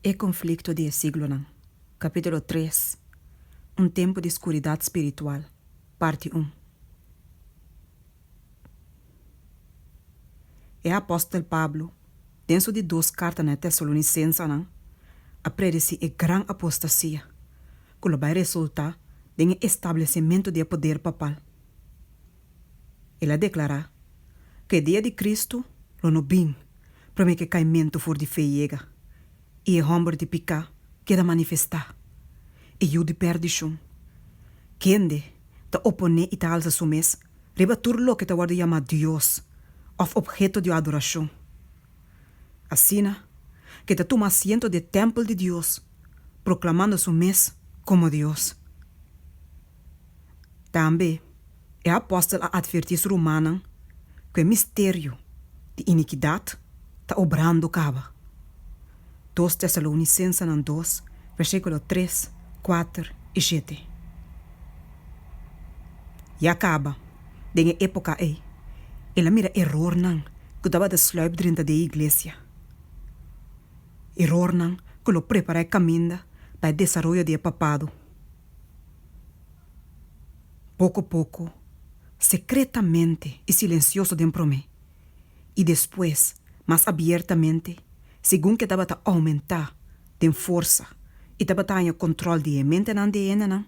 E konflikto di e siglonan, Kapítulo tres, Un tempu di skuridat spiritual, Parti un. E apòstel Pablo, den su di dos karta na e tesalonisensenan, a predesí e gran apostasia ku lo bai resultá den e establesimentu di e poder papal. El a deklará ku e dia di Kristu lo no bin. promé k'e kaimentu for di fe yega, i e hòmber di piká keda manifestá, e yu di pèrdishon. Kende ta oponé i ta alsa su mes riba tur loke ta wòrdu yamá dios òf opheto di adorashon. Asina k'e ta tuma asiento di e tèmpel di Dios, proklamando su mes komo Dios. Tambe. E apòstel a atvertí su rumannan ku e misterio di inikidat ta obrando kaba. Dos Tesalounisensenan dos, versíkulo tres, kuater i shete. Ya kaba den e époka ei, el a mira erornan ku tabata slùip drenta di e iglesia, erornan ku lo prepará e kaminda pa e desaroyo di e Papado. Poko poko, sekretamente i silensioso den promé, i despues mas abiertamente segun ke tabata oumentá den forsa i tabata haña kòntròl di e mentenan di e hendenan,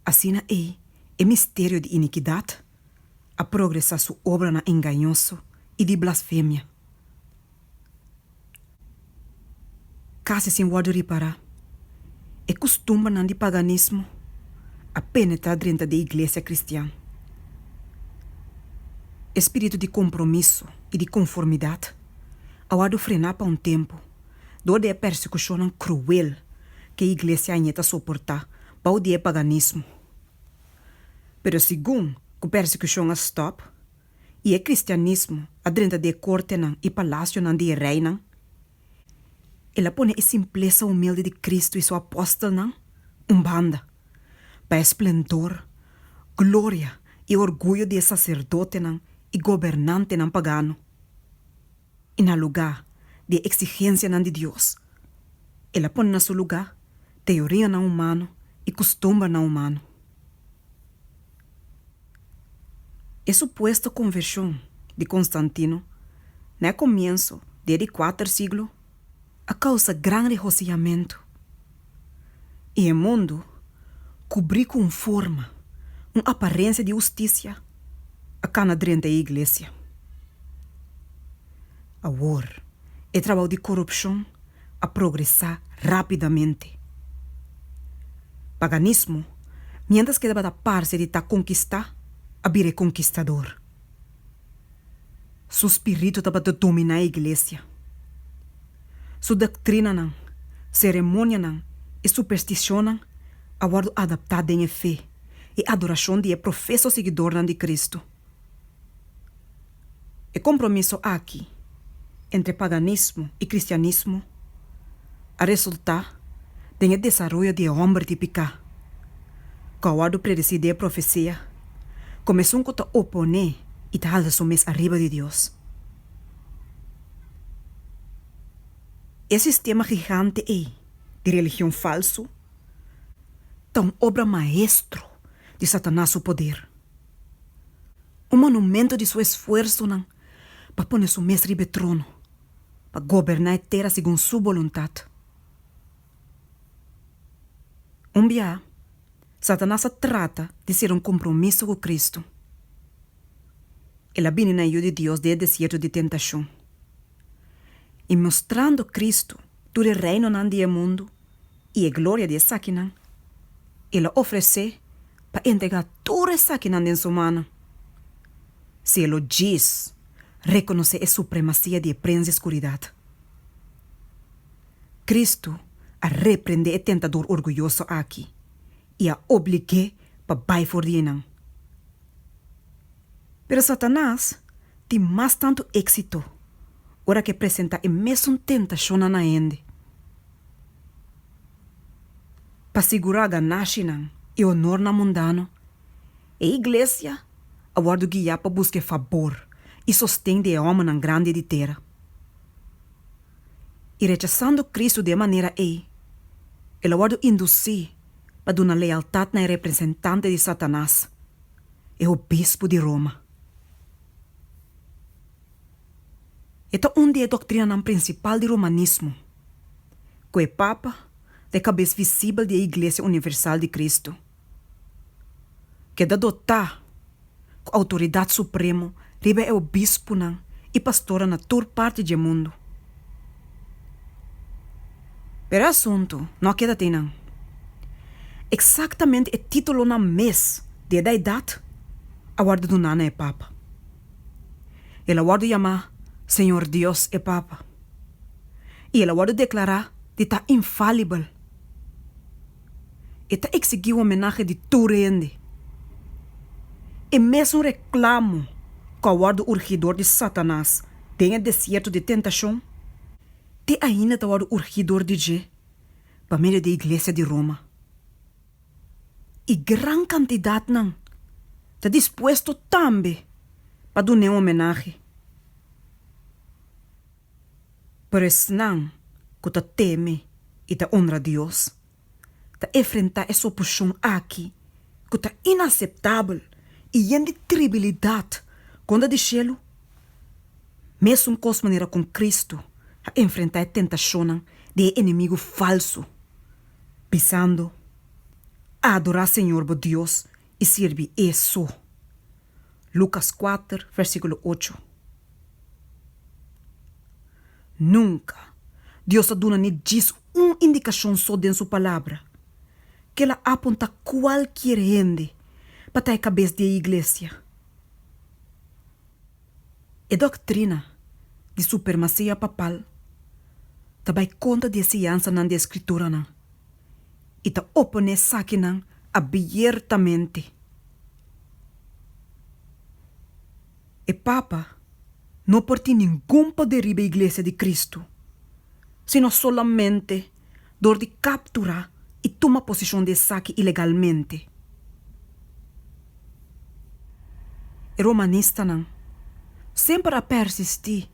asina ei e misterio di inikidat a progresá su obranan engañoso i di blasfemia. Kasi sin wòrdu ripará, e kustumbernan di paganismo a penetrá drenta di e iglesia kristian. E spiritu di kompromiso i di konformidat a wòrdu frená pa un tempu dor di e persekushonnan kruel ku e iglesia aña ta soportá bou di e paganismo. Pero segun ku persekushon a stòp, i e kristianismo a drenta di e kortenan i palasionan di e reinan, el a pone e simplesa humildi di Kristu i su apòstelnan un banda pa e splendor, gloria i orguyo di e saserdotenan i gobernantenan pagano. i na lugá di e eksigensianan di Dios. El a pone na su lugá teorianan humano i kustumbernan humano. E supuesto konvershon di Konstantino na e komienso di e di kuater siglo, a causa gran regociamentu, y e mundu cubri cu un forma, un aparencia di husticia a cana drenta e iglesia. Awor, e trabao di corupcion a progresa rapidamente. Paganismo, mientras kedaba ta parce di ta conquista, a bira e conquistador. Su spiritu tabata dominá e iglesia. Su doktrinanan, seremonianan i supersticionnan a wòrdu adaptá den e fe i adorashon di e profeso siguidornan di Kristu. E kompromiso aki entre paganismo i kristianismo a resultá den e desaroyo di e hòmber di piká, ku a wòrdu predesí den e profesia kòm esun ku ta oponé i ta halsa su mes ariba di Dios. E sistema gigante ei di religion falsu ta un obra maestro di Satanas su poder, un monumentu di su esfuersonan pa pone su mes riba e trono. pa goberná e tera segun Su boluntat. Un biaha, Satanas a trata di sera un kompromiso ku Kristu. El a bini na e yu di Dios den e desierto di tentashon, i mostrando Kristu tur e reinonan di e mundu i e gloria di esakinan, el a ofresé pa entregá tur esakinan den Su mano. Cielo djis reconoce e supremacia di e prens di escuridat. Cristo a reprende e tentador orguyoso aki y a obligue pa bay for di eynan. Pero Satanas tin mas tanto exito ora ke presenta e mesun tentacionnan na hende pa sigura ganashi nan y honornan mundano. E iglesia a wòrdu guiá pa buska e fabor i sosten di e òmènan grandi di tera. I rechasando Kristu di e manera ei, el a wòrdu indusí pa duna lealtat na e representante di Satanas, e obispu di Roma. E ta un di e doktrinanan prinsipal di romanismo, ku e papa ta e kabes visibel di e iglesia universal di Kristu. keda dotá ku outoridat supremo riba e obispunan i pastornan na tur parti dje mundu. Pero e asuntu no a keda tei nan. Eksaktamente e titulonan mes di e daidat a wòrdu duná na e papa. El a wòrdu yamá Señor Dios e papa i el a wòrdu deklará di ta infalibel. E ta eksigi homenahe di tur hende. E mesun reklamo ku a wòrdu urgidor di Satanas den e desierto di tentashon, te ainda ta wòrdu urgidor di dje pa medio di e iglesia di Roma. I gran kantidatnan ta dispuesto tambe pa dun'é homenahe. Pero esnan ku ta teme i ta onra Dios ta efrentá es opushon aki ku ta inaseptabel i yen di tribilidat kontra di shelu, mesun kos manera kon Kristu a enfrentá e tentashonnan di e enemigu falsu, bisando, Adorá Señor bo Dios i sirbi E so. Lucas kuater versikulo ocho. Nunka Dios a duna ni djis un indikashon so den su Palabra. Kel a apunta kualkier hende pa ta e kabes di e iglesia. E doktrina di supermasia papal ta bai kontra di e siansanan di e skrituranan. i ta oponé esakinan abiertamente. E papa no por tin ningun poder riba e Iglesia di Kristu, sino solamente dor di kapturá i tuma posishon di esaki ilegalmente. E romanistanan semper a persistí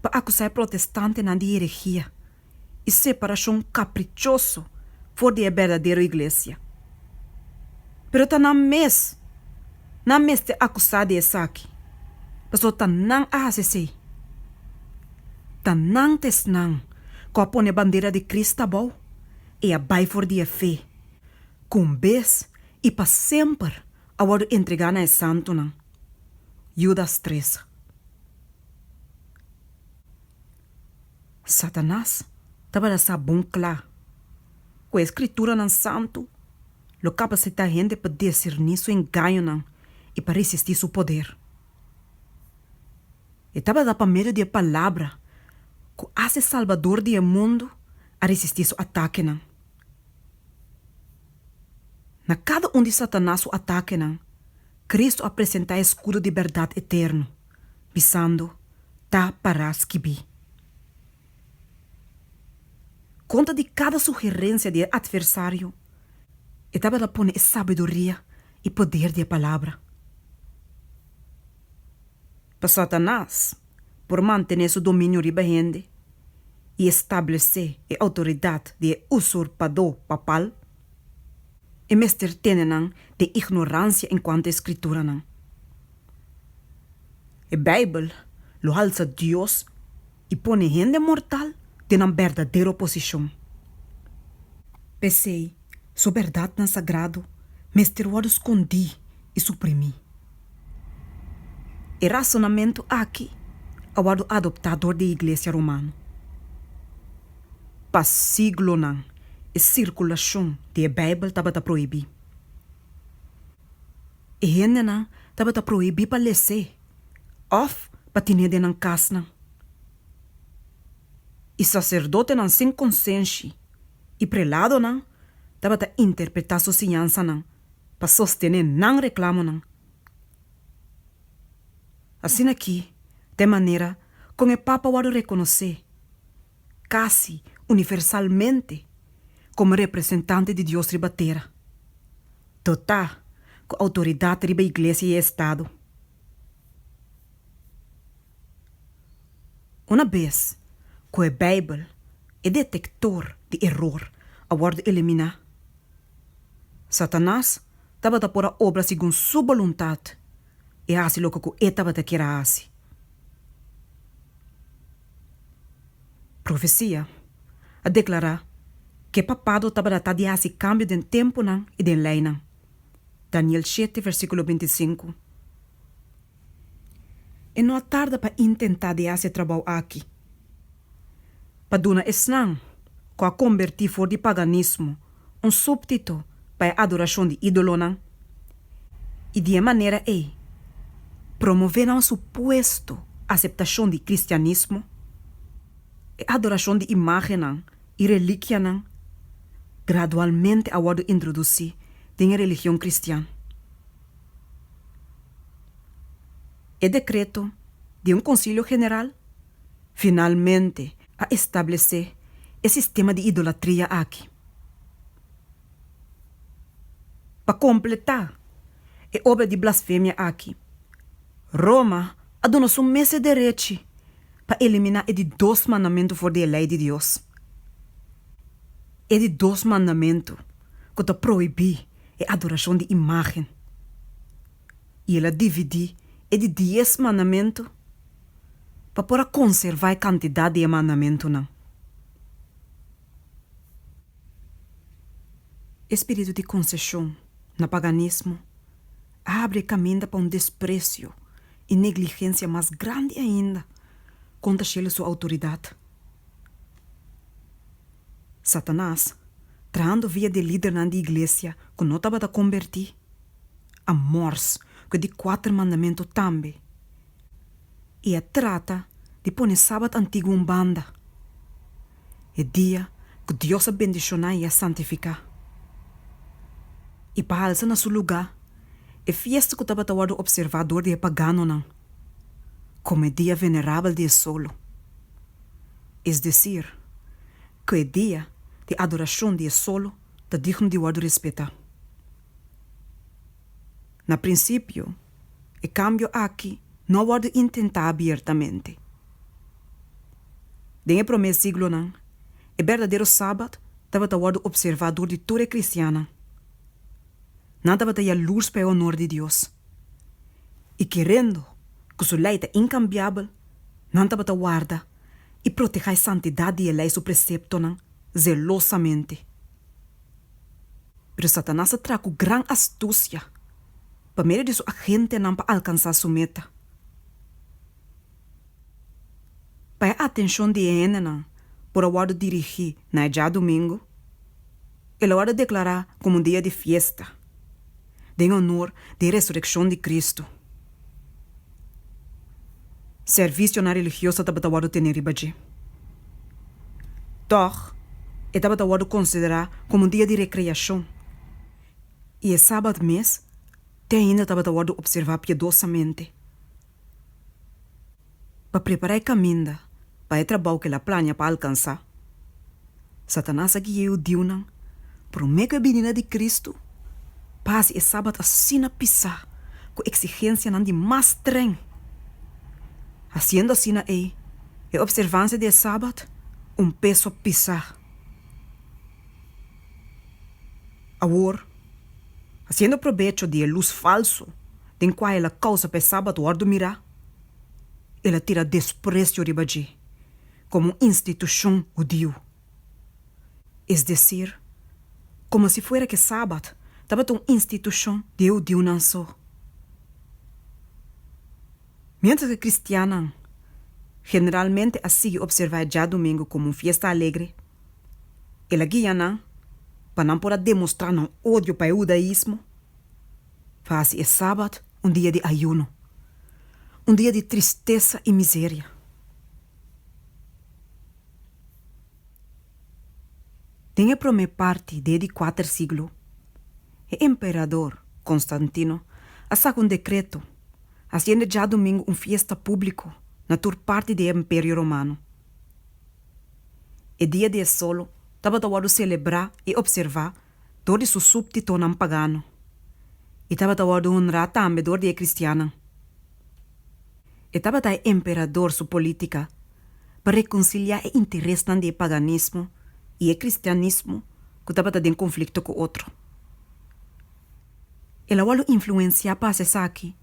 pa akusá e protestantenan di herejia. i separashon kaprichoso for di e berdadero iglesia. Pero ta nan mes nan mester akusá di esaki, pasobra ta nan a hasi esei. Ta nan ta esnan ku a pone e bandera di Krist abou i a bai for di e fe, ku un bes i pa semper a wòrdu entregá na e santunan. Yudas tres. Satanas tabata sa bon cla cu e Scriturnan santu lo capacita hende pa discerni su engañonan y pa resisti su poder. E tabata pa medio di e Palabra cu haci Salbador di e mundo a resisti su atakenan. Na cada un di Satanas su atakenan, Cristo a presenta e escudo di berdad eterno. bisando, Ta pará skibí. Konta di kada sugerensia di e atversario, e tabata pone e sabiduria i poder di e Palabra. Pa Satanas por mantené su dominio riba hende i establesé e outoridat di e usurpadó papal, e mester tene nan den ignoransia en kuantu e Skrituranan. E Beibel lo halsa Dios i pone hende mortal den nan berdadero posishon. P'esei, su bèrdatnan sagrado mester wòrdu skondí i suprimí. E rasonamentu akí a wòrdu adoptá dor di e iglesia romano. Pa siglonan e sirkulashon di e Beibel tabata prohibí. E hendenan tabata prohibí pa les'é òf pa tine den nan kasnan. I saserdotenan sin konsenshi i preladonan tabata interpretá su siñansanan pa sostené nan reklamonan. Asina ki t'e manera kon e Papa wòrdu rekonosé. casi universalmente como representante di Dios riba tera, dotá cu autoridad riba Iglesia y Estado. Una bez cu e Bijbel, e detector di eror, a wordo eliminá, Satanas tabata por a obra segun su boluntad. e hasi loke ku e tabata kier a hasi. Profesia a deklará ku e Papado tabata ta di hasi kambio den tempunan i den leinan, Daniel shete versíkulo binti sinku. E no a tarda pa intentá di hasi e trabou akí. pa duna esnan ku a kombertí for di paganismo un súbtito pa e adorashon di ídolonan i di e manera ei promové nan supuesto aseptashon di kristianismo. E adorashon di imágennan i relíkianan gradualmente a wòrdu introdusí den e religion kristian. E dekreto di un konsilio general Finalmente a establesé e sistema di idolatria aki. Pa kompletá e obra di blasfemia aki, Roma a duna su mes e derechi pa eliminá e di dos mandamentu for di e Lei di Dios, e di dos mandamentu ku ta prohibí e adorashon di imágen, i el a dividí e di dies mandamentu. pa por a konservá e kantidat di e mandamentunan. E spiritu di konseshon na paganismo a abri e kaminda pa un despresio i negligensia mas grandi ainda kontra shela su outoridat. Satanas, trahando via di e lidernan di iglesia ku no tabata kombertí, a mors ku e di kuater mandamentu tambe. i e trata di pone e sabat antiguo un banda, e dia ku Dios a bendishoná i a santifiká. I pa halsa na su lugá e fiesta ku tabata wòrdu opservá dor di e paganonan komo e dia venerabel di e solo, es desir, ku e dia di adorashon di e solo ta digno di wòrdu respetá. Na prinsipio. e kambio aki no a wòrdu intentá abiertamente. Den e promé siglonan, e berdadero Sabat tabata wòrdu opservá dor di tur e kristiannan. Nan tabata ya lus pa e onor di Dios, i kerendo ku Su lei ta inkambiabel, nan tabata warda i protehá e santidat di e lei su preseptonan zelosamente. Pero Satanas a traha ku gran astusia. pa medio di su agentenan pa alkansá su meta. Pa e atenshon di e hendenan por a wòrdu dirigí na e djadumingu, el a wòrdu deklará komo un dia di fiesta den onor di e resurekshon di Kristu. Servisionan religioso tabata wòrdu tene riba dje. Tòg, e tabata wòrdu konsiderá komo un dia di rekreashon. i e Sabat mes te ainda tabata wòrdu opservá piedosamente pa prepará e kaminda pa e trabou ku el a plania pa alkansá. Satanas a guia e hudiunan promé ku e bininda di Kristu pa hasi e Sabat asina pisá ku eksigensianan di mas stren. Hasiendo asina ei e opservansia di e Sabat un peso pisá. Awor, hasiendo probecho di e lus falsu den kua el a kousa pa e Sabat wòrdu mirá, el a tira despresio riba dje komo un institushon hudiu, es desir, komo si fuera ku e Sabat tabata un institushon di e hudiunan so. Miéntras ku kristiannan generalmente a sigui opservá e djadumingu komo un fiesta alegre, El a guia nan pa nan por a demostrá nan odio pa e hudaismo, pa hasi e Sabat un dia di ayuno, un dia di tristesa i miseria. Den e promé parti di e di kuater siglo, e emperador Konstantino a saka un dekreto hasiendo e djadumingu un fiesta públiko na tur parti di e Imperio Romano. E dia di e solo tabata wòrdu selebrá i opservá dor di su súbtitonan pagano i tabata wòrdu honrá tambe dor di e kristiannan. E tabata e emperador su polítika pa rekonsiliá e interesnan di e paganismo i e kristianismo ku tabata den konflikto ku otro. El a wòrdu influensiá pa hasi esaki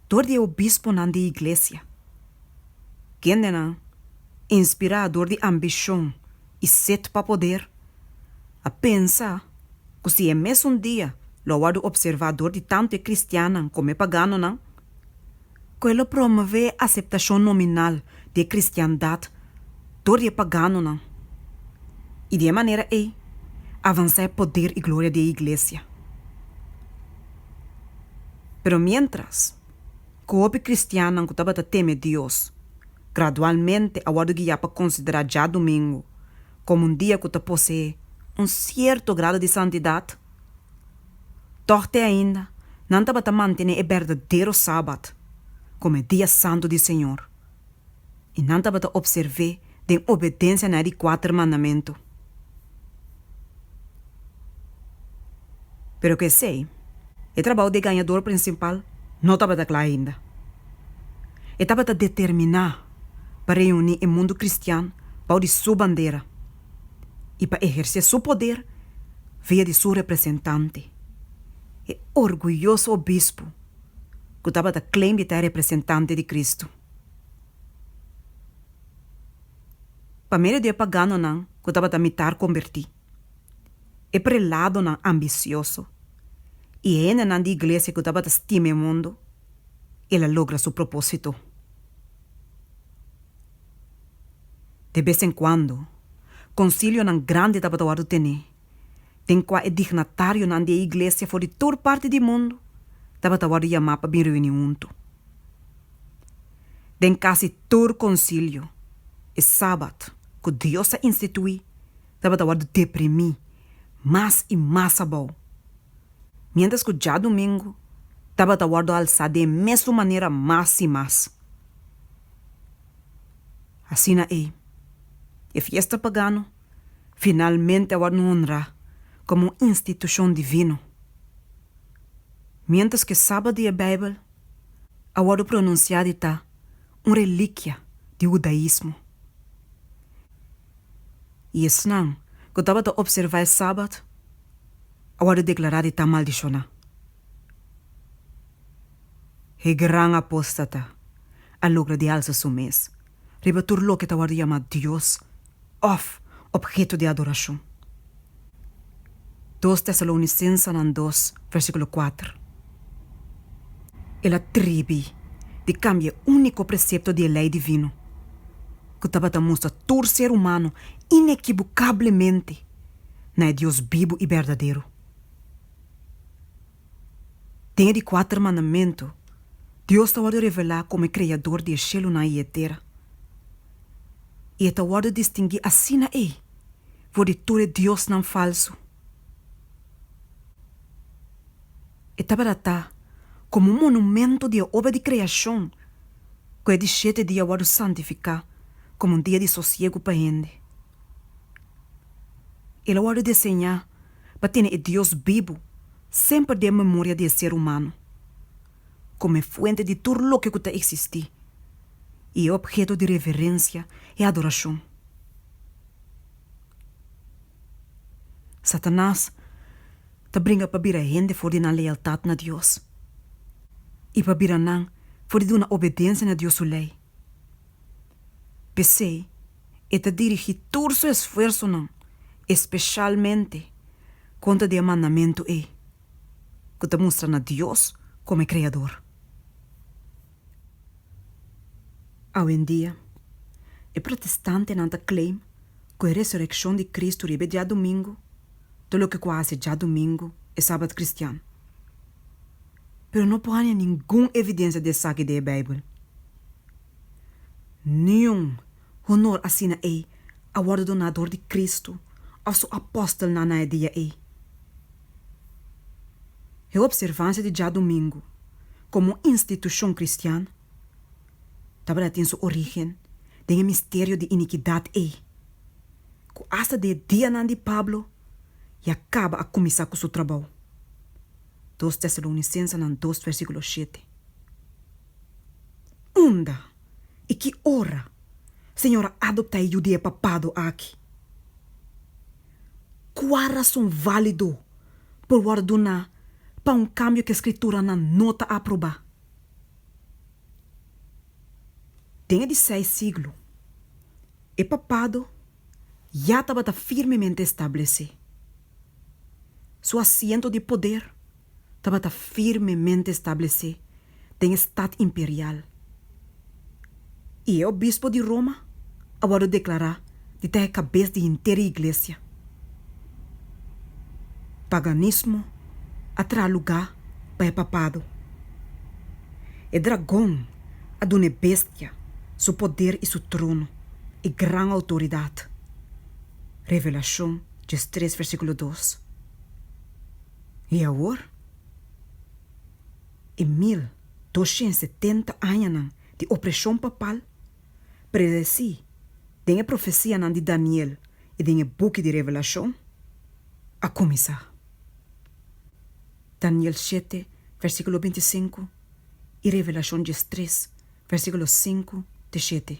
dor di e obisponan di Iglesia. Gendenan, inspirá dor di ambishon i set pa poder, a pensa ku si e mesun dia lo a wòrdu opservá dor di tantu e kristiannan komo e paganonan, ku e lo promové e aseptashon nominal di e kristiandat dor di e paganonan i di e manera ei avansá e poder i gloria di e Iglesia. Pero miéntras ku hopi kristiannan ku tabata teme Dios gradualmente a wòrdu guiá pa konsiderá djadumingu komo un dia ku ta poseé un sierto grado di santidat, tòg te ainda nan tabata mantené e berdadero Sabat komo e dia santu di Señor. i nan tabata opservé den obedensia na e di kuater mandamentu. Pero ku esei, e trabou di e gañador prinsipal no tabata kla ainda. E tabata determiná pa reuní e mundu kristian bou di su bandera i pa ehersé su poder via di su representante, e orguyoso obispu. ku tabata klem di ta e representante di Kristu. Pa medio di e paganonan ku tabata mitar kombertí, e preladonan ambisioso i e hendenan di iglesia ku tabata stima e mundu, el a logra su propósito. De bes en kuando, konsilionan grandi tabata wòrdu ten'é. den kua e dignatarionan di e iglesia for di tur parti di mundu tabata wòrdu yamá pa bin reuni huntu. Den kasi tur konsilio, e Sabat ku Dios a instituí tabata wòrdu deprimí mas i mas abou, miéntras ku djadumingu tabata wòrdu alsá den e mesun manera mas i mas. Asina ei, e fiesta pagano finalmente a wòrd honrá komo un institushon divino. Miéntras ku e Sabat di e Beibel a wòrdu pronunsiá di ta un relikia di hudaismo, i esnan ku tabata opservá e Sabat a wòrdu deklará di ta maldishoná. E gran apóstata a logra di alsa su mes. riba tur loke ta wòrdu yamá dios òf opheto di adorashon. Dos Tesalounisensenan dos, vèrsikulo kuater. E la tribi di kambia e úniko presepto di e lei divino ku tabata mustra tur ser humano inekibukablemente na e Dios bibu i berdadero. Den e di kuater mandamentu, Dios ta wòrdu revelá komo e Kreador di e shelunan i e tera, i e ta wòrdu distinguí asina ei for di tur e diosnan falsu. E tabera ta komo un monumentu di e obra di kreashon ku e di shete dia wòrdu santifiká komo un dia di sosiegu pa hende. El a wòrdu deseñá pa tene e Dios bibu semper den memoria di e ser humano, komo e fuente di tur loke ku ta eksistí i e opheto di reverensia i adorashon. Satanas ta bringa pa bira hende for di nan lealtat na Dios i pa bira nan for di duna obedensia na Dios su lei. P'esei, e ta dirigí tur su esfuersonan espeshalmente kontra di e mandamentu ei ku ta mustra na Dios komo e Kreador. Awendia, e protestantenan ta claim ku e resurekshon di Kristu riba e diadumingu ta loke ku a hasi djadumingu, e sabat kristian. pero no por haña ningun evidencia di esaki den e Bijbel. Niun honor asina ei a wordo doná dor di Cristo of Su apostelnan na e dia ei. E observancia di djadumingu como un institucion cristian tabata tin su origen den e misterio di iniquidad ei, cu hasta den e dianan di Pablo ya caba a cuminsá cu su trabou. Dos Tesalonicensenan dos versículo shete. Unda i ki ora Señor a adoptá e Judea papado aki? Kua rason válido por wòrdu duná pa un kambio ku e Skrituranan no ta aprobá? Den e di seis siglo, e papado, ya tabata firmemente establesé. Su asiento di poder tabata firmemente establesé den e stat imperial, i e obispo di Roma a wòrdu deklará di ta e kabes di henter e iglesia. Paganismo a traha lugá pa e papado. E dragon. a duna e Bestia su poder i su trono i gran outoridat. Revelashon djes tres versíkulo dos. I awor, e mil doshent setenta añanan di opreshon papal, predesí den e profesianan di Daniel i den e buki di Revelashon, a kuminsá. Daniel shete versíkulo binti sinku. i Revelashon diestres, versíkulo sinku te shete.